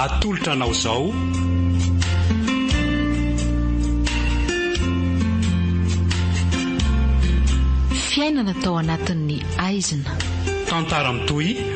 Atolotra anao izao Fiainana tao anatin'ny aizina. Tantara mitohy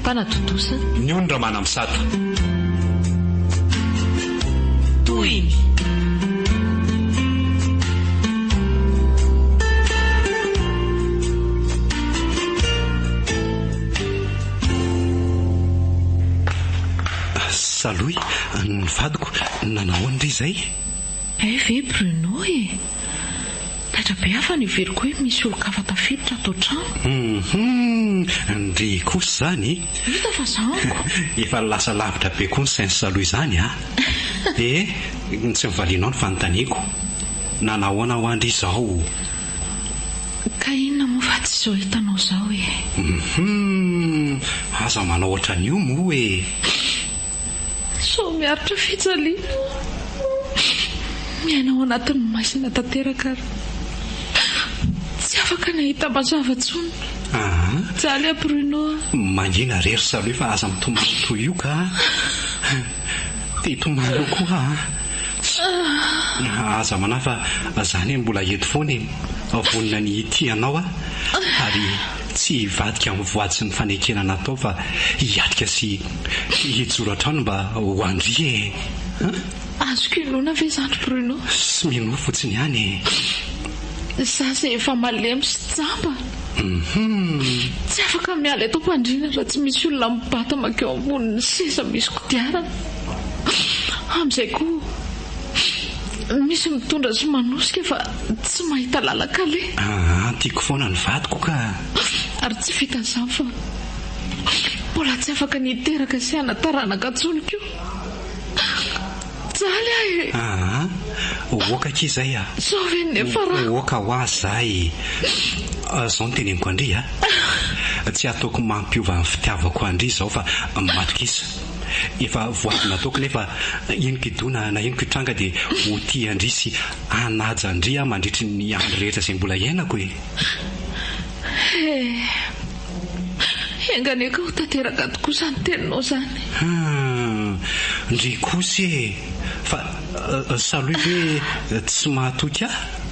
Mpanatontosa. Ny ony Ramanampisata. Tohiny. Salohy, ny vadiko, nanao ahoana re izay? Hay ve Bruno e? Taitra be aho fa neveriko hoe misy olon-kafa tafiditra ato an-trano. Hum-hum, ndry kosa izany e! Hita fa za ango! Efa lasa lavitra be koa ny sens aloha izany a! Ee, tsy mivalianao ny fanontaniako. Na nahoana hoa ndry izao. Ka inona moa fa tsy izao hitanao izao e! Hum-hum, aza manao ohatran'io moa e! Sao miaritra fijaliana aho. Miaina ao anatin'ny maizina tanteraka ary tsy afaka ny hahita mazava intsony. Mijaly aho Bruno a. Mangina re ry Salut fa aza mitomany toy io ka a. Te hitomany eo koa aho. Aza manahy fa za anie mbola eto foana e. Vonona ny hitia anao aho ary. Tsy hivadika amin'ny voaditry ny fanekena natao fa hiatrika sy hijoro hatrany mba ho an-dry e! An! Azoko inoana ve izany ry Bruno? Sy minoa fotsiny ihany e! Izaho izay efa malemy sy jamba! Tsy afaka miala eto am-pandriana raha tsy misy olona mibata mankeo ambonin'ny seza misy kodiarana! Amin'izay koa. Misy mitondra sy manosika fa tsy mahita lalan-kaleha. Aa, tiako foana ny vadiko ka. Ary tsy vitan'izany fa mbola tsy afaka ny hiteraka sy hana taranaka intsony koa. Jaly aho e! Aa, ohoka akia izay a! Zao ve ny niafarako? Ohoka hoa zay! Zao no teneniko an-dry a! Tsy ataoko mampiova ny fitiavako an-dry izao fa matokisa. Efa voavy nataoko nefa henoko idona na henoko itranga dia ho tia an-dry sy hanaja an-dry aho mandritry ny andro rehetra izay mbola iainako e! He! Enga anie ka ho tanteraka tokoa izany teninao izany! Hum! Ndry kosa e! Fa Salohy ve tsy mahatoky ahy?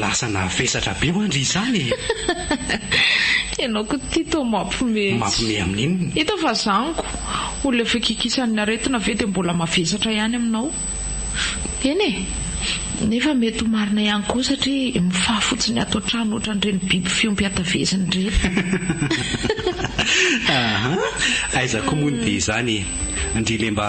Lasa navesatra be hoan dry izany e! Ianao ko ity toa mampiomehy. Mampiomehy amin inona? Hita fa zaniko, olona efa kikisan ny aretina ve dia mbola mavesatra ihany aminao? Eny e! Nefa mety ho marina ihany koa satria mifaha fotsiny ato an-trano ohatran ireny biby fiompy hatavezina ireny. Ahaa, aiza koa moa ny dia izany e! Ndry le mba.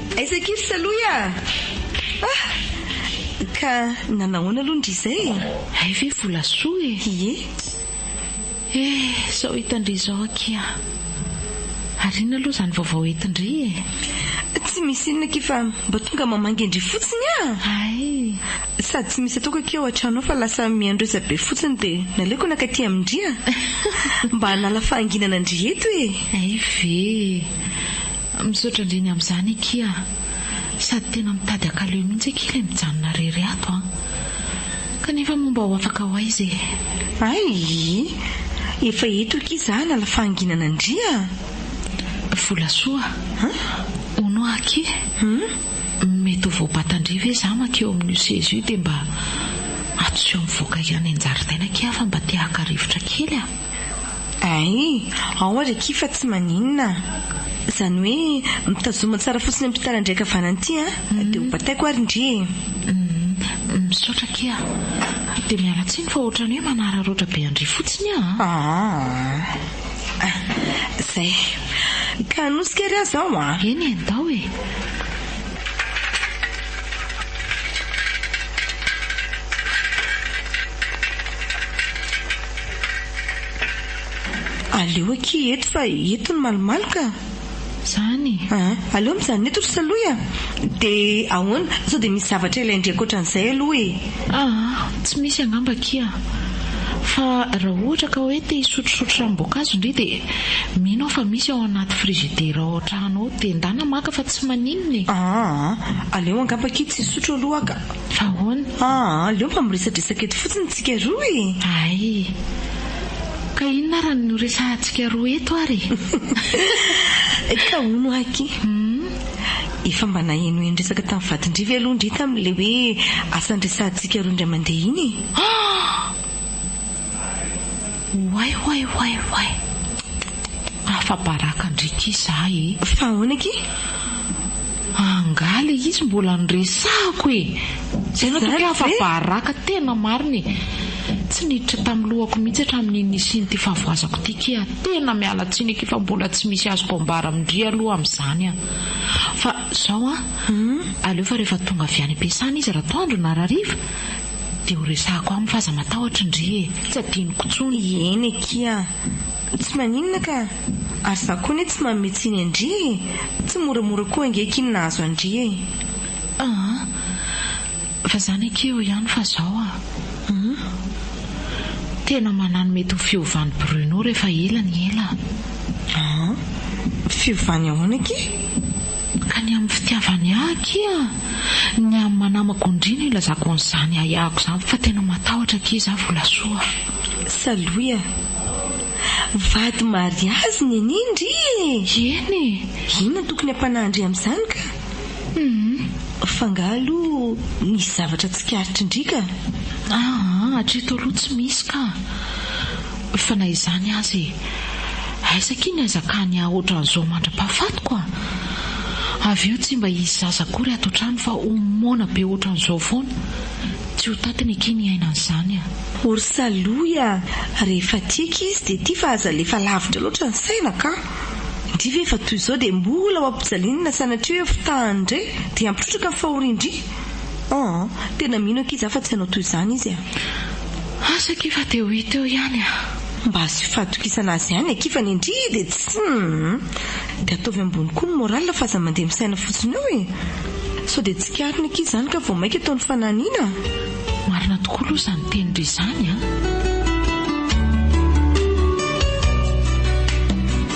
Aiza akia ry Salohy a! Ah! Ka nanahoana aloha ndry izay e? Hay ve volasoa e! Ie! Eh! Sao hitan-dry izao akia! Ary inona aloha izany vaovao entin-dry e? Tsy misy inona akia fa mba tonga mamangy an-dry fotsiny a! Hay! Sady tsy misy ataoko akia ao an-trano ao fa lasa miandresa be fotsiny dia naleoko naka aty amin-dry a! Mba hanala fahanginana an-dry eto e! Hay ve! Misaotra indrindra amin'izany akia a! Sady tena mitady ankaleo mihitsy akia ilay mijanona irery ato an! Kanefa moa mba ho afaka ho aiza e! Ayy! Efa eto akia za hanala fahanginana ndry a! Volasoa a! Hono hoa akia! Mety ho voabata ndry ve za maka eo amin'io seza io dia mba atoseo mivoaka any an-jaridaina akia aho fa mba te haka rivotra kely a! Ay, ao ary akia fa tsy maninona a! Izany hoe mitazoma tsara fotsiny amin'ity taran-dry ankavanana ity a! Dia ho bataiko ary ndry e! Uhm, misaotra akia a! Dia miala tsiny fa ohatran'ny hoe manararaotra be an-dry fotsiny aho a! Aa! Ah, izay. Ka hanosika ary aho izao a! Eny e, ndao e! Aleo akia eto fa eto ny malomaloka a! Zany e! Aleo mijanona eto ry Salohy a! Dia ahoana? Sao dia misy zavatra ilain-dry ankoatran'izay aloha e! Aa! Tsy misy angamba akia a! Fa raha ohatra ka hoe te hisotrosotro ranom-boankazo indry dia mino aho fa misy ao anaty frizidera ao an-trano ao dia ndana maka fa tsy maninona e! Aa! Aleo angamba akia tsy hisotro aloha aho ka! Fa ahoana? Aa, aleo mba miresadresaka eto fotsiny tsika roa e! Ay! Ka inona ary ny horesahantsika roa eto ary e? Ka hono aky, efa mba nahenoheno resaka tamin'i vadin-dry ve aloha ndry tamin'ilay hoe asa niresahantsika roa indray mandeha iny e? Aa! Oay oay oay oay. Afa-baraka ndry ki za e. Fa ahoana ki? Angaha le izy mbola noresahako e! Zay no tokony afa-baraka tena marina e! Tsy niditra tamin'ny lohako mihitsy hatramin'iny nisian'ity fahavoazako ity ki a! Tena miala tsiny akia fa mbola tsy misy azoko ambara amin-dry aloha amin'izany an! Fa zao an! Aleo fa rehefa tonga avy any am-piasana izy ratoandro na rariva Dia ho resahako aminy fa aza matahotra ndry e! Tsy adinoko tsony. Eny akia! Tsy maninona ka! Ary za koa anie tsy manome tsiny an-dry e! Tsy moramora koa ange akia ny nahazo an-dry e! Aa! Fa zany akia eo ihany fa zao a! Hum! Tena manano mety ho fiovan'i Bruno rehefa ela ny ela a! Aa! Fiovany ahoana akia? Ka ny amin'ny fitiavany ahy akia, ny amin'ny manamako indrina ilazako an'izany ahiahiko izany fa tena matahotra akia izaho volasoa a! Saloia, vady mariazy neny indry e! Eny e! Inona no tokony hampanahin-dry amin'izany ka? Humm! Fa angaha aloha nisy zavatra tsikaritry-ndry ka? Aa, hatreto aloha tsy misy ka! Fa na izany aza e! Aiza akia ny hazakany ahy ohatran'izao mandra-pahafatiko a! Avy eo tsy mba hisy zaza akory ato an-trano fa ho moana be ohatran'izao foana. Tsy ho tatiny akia ny aina an'izany a! Orsa Louie a! Rehefa tia akia izy dia tia fa aza alefa lavitra loatra ny saina ka! Ndry ve efa toy izao dia mbola ho ampijaliana sanatria hoe fotahany indray dia hampitrotraka ny fahorian-dry? An! Tena mino akia za fa tsy hanao toy izany izy eh! Asa akia fa teo hi teo ihany eh! Mba asio fahatokisana azy ihany akia fa ny ndry dia tsy humm! Dia ataovy ambony koa ny morale fa aza mandeha misaina fotsiny eo eh! Sao dia tsikariny akia izany ka vao maika atao ny fananina an! Marina tokoa aloha izany tenindry izany an!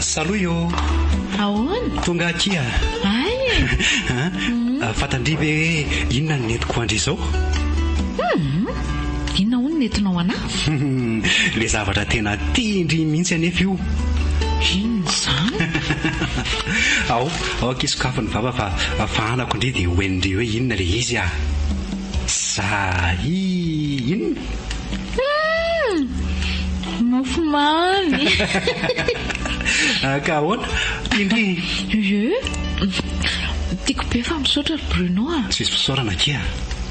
Saloy ô! Ahoana? Tonga aty a! Ahy e! An! Fantandry ve hoe inona no nentiko ho andry izao? Inona hono no nentinao an'ahy? Ilay zavatra tena tian-dry mihitsy anefa io! Inona izany? Ao, ao akia sokafy ny vava fa fahanako indry dia ho hain-dry hoe inona ilay izy a! Za i! Inona? Mofo mamy. Ka ahoana? Indrindra. Eeh. Tiako be fa misaotra ry Bruno a. Tsisy fisaorana akia a.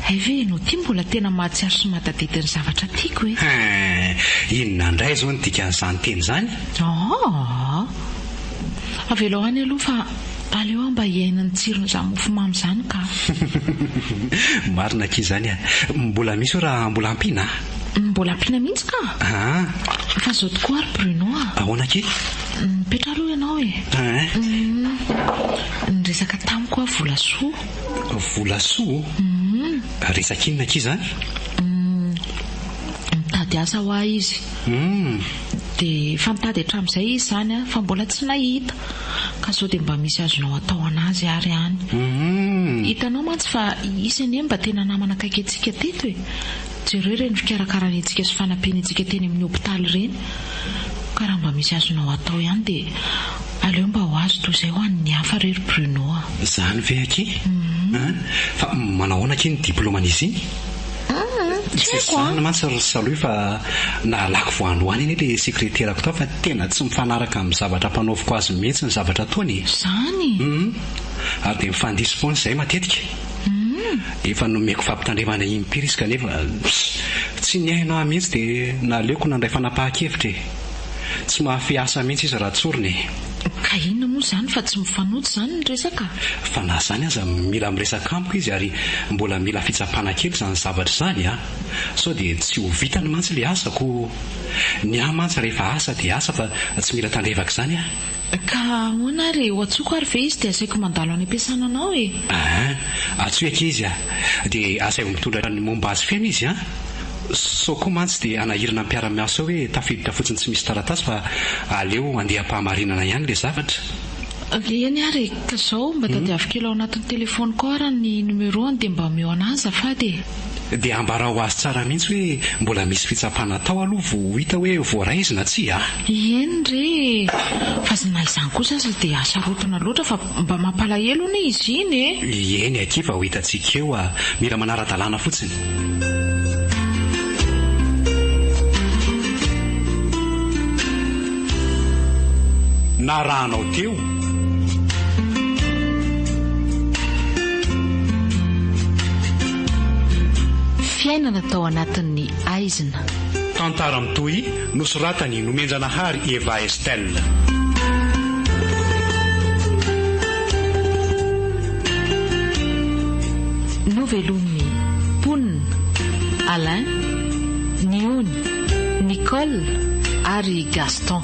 Hay ve ianao ity mbola tena mahatsiaro sy mahatadidy ny zavatra tiako e. Hein. Inona indray izao ny dikan'izany teny izany? Aa. Avelao any aloha fa. Aleo aho mba hiaina ny tsiron'izany mofomamy izany ka! Marina akia izany a! Mbola misy hoe raha mbola ampiana a! Mbola ampiana mihitsy ka! Fa izao tokoa ary Bruno a! Ahoana akia? Mipetraha aloha ianao e! Humm! Niresaka tamiko aho volasoa! Volasoa? Humm! Resaka inona akia izany? Humm! Mitady asa ho ahy izy! Humm! Dia efa nitady hatramin'izay izy izany a! Fa mbola tsy nahita! Ka zao dia mba misy azonao atao anazy ary any. Hitanao mantsy fa hisy anie mba tena namana akaiky antsika teto e! Jereo ireny fikarakarany antsika sy fanampiany antsika teny amin'ny hopitaly ireny. Ka raha mba misy azonao atao ihany dia aleo mba ho azy toa izay ho an'ny hafa re ry Bruno a! Izany ve akia? Fa manao ahoana akia ny diplaoman'izy iny? Tsy zahana mantsy ry Salohy fa nahalako vao any ho any anie le sekreterako tao fa tena tsy mifanaraka amin'ny zavatra ampanaoviko azy mihitsy ny zavatra ataony e! Zany? Hum! Ary dia mifandiso foana izahay matetika. Hum! Efa nomeko fampitandremana impiry izy kanefa tsy nihaino ahy mihitsy dia naleoko nandray fanapahan-kevitra e! Tsy mahafehy asa mihitsy izy raha tsorina e! Ka inona moa izany fa tsy mifanojo izany ny resaka? Fa na izany aza mila miresaka amiko izy ary mbola mila fitsapana kely izany zavatra izany a! Sao dia tsy ho vitany mantsy ilay asako! Ny ahy mantsy rehefa asa dia asa fa tsy mila tandrevaka izany a! Ka ahoana ary e? Ho antsoiko ary ve izy dia asaiko mandalo any am-piasana anao e? Aa, antsoy akia izy a! Dia asaivo mitondra ny momba azy feno izy an! Sao koa mantsy dia hanahirana ny mpiara-miasa ao hoe tafiditra fotsiny tsy misy taratasy fa aleo handeha am-pahamarinana ihany ilay zavatra. Eny ary e! Ka izao, mba tadiavo kely ao anatin'ny telefaoniko ao ary ny numéro-ny dia mba omeo an'ahy azafady e! Dia ambarao azy tsara mihitsy hoe mbola misy fitsapana atao aloha vao ho hita hoe voaray izy na tsia a! Ieny re e! Fa zna izany kosa aza dia sarotona loatra fa mba mampalahelo anie izy iny e! Ieny akia fa ho hitantsika eo a! Mila manara-dalàna fotsiny. Narahanao teo. Fiainana tao anatin'ny aizina. Tantara mitohy nosoratany nomenjanahary Eva Estelle. Novelomin'ny mponina, Alain, Niony, Nicole ary Gaston.